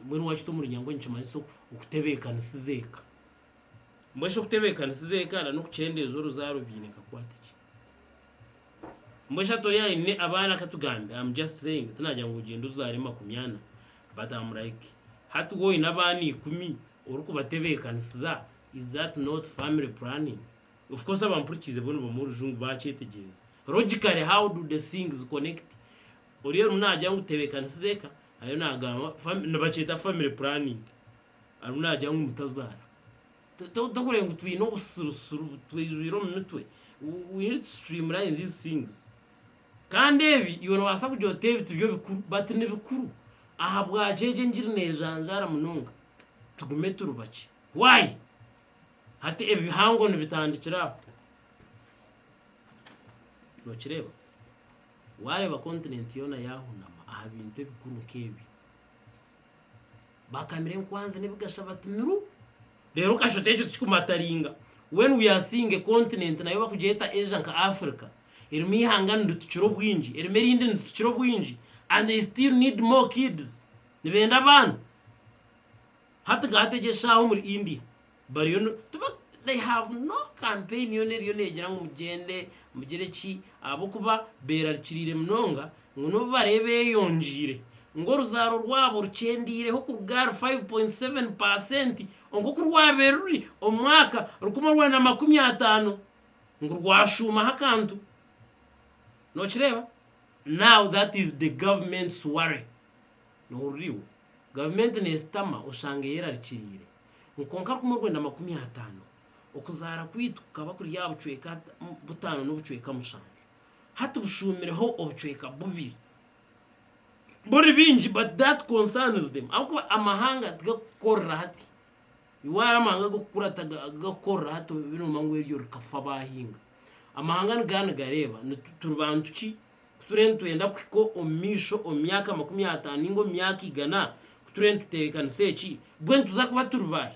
Mbwenu waakita omuri Nyangu nikimanyisa okutebeekanisiza eka. Mbwenu shi okutebeekanisiza eka n'okukyendeeza oruzaaro biine kakwate ki? Mbwenu shi hati ori aine abaana katugambe, am just saying, tinaagira ngu ogyende ozaare makumi ana but am like hati waaba oine abaana ikumi orikubatebeekanisiza is that not family planning? Of course abampurikiize bo nibamanya orujungu baakyetegyereza. Logically how do the things connect? Oriya arimu naagira ngu tebeekanisize eka, ariyo naagamba nibakyeta family planning, arimu naagira ngu mutazaara. Tokureeba ngu twine obusirusiru butwijwire omu mitwe, we need to streamline these things. Kandi ebi iwe noobaasa kugira oti ebi tibyo bikuru but nibikuru. Ahabwaki egi engiri neejanjaara munonga? Tugume turi bakye. Why? Hati ebi bihango nibitandikira aha? Nookireeba? Waareeba kontinenti yoona yaahunama aha bintu ebikuru nk'ebi, baakamira enkwanzi n'ebigasha bati miru! Reero kashute ekyo tikikumataringa. When we are seeing a continent nayo bakugyeta Asia nka Africa, erimu eihanga niritukira obwingi, erimu erindi niritukira obwingi and they still need more kids, nibenda abaana. Hati ga hati egi eshaaha omuri India. bariyo ni tiba they have no campaign yoona eriyo negira ngu mugyende mugire ki ahabw'okuba beerarikiriire munonga ngu n'obu bariyo beeyongiire ngu oruzaaro rwabo rukyendeireho kuruga ahari five point seven percent nk'oku rwabaire ruri omu mwaka rukumi orwenda na makumi ataano ngu rwashuumaho akantu. Nookireeba? Now that is the government's worry. Nohurira iwe? Gavumenti neesitama oshanga eyerarikiriire. Nkonka kumwe orwenda makumi ataano, okuzaara kwaitu kukaba kuri aha bucweka butaano n'obucweka mushanju. Hati bushuumireho obucweka bubiri. Buri bingi but that concerns them ahabw'okuba amahanga tigakukorera hati. Iwe ahari amahanga ag'okukura tigakukorera hati obe noomanya ngu eryo rikafa baahinga. Amahanga nigaba nigareeba ngu turi bantu ki? Ku turiyo nitwenda kuhika omu maisho omu myaka makumi ataano nainga omu myaka igana, ku turiyo nitutebeekanisa eki, mbwenu tuza kuba turi baahi?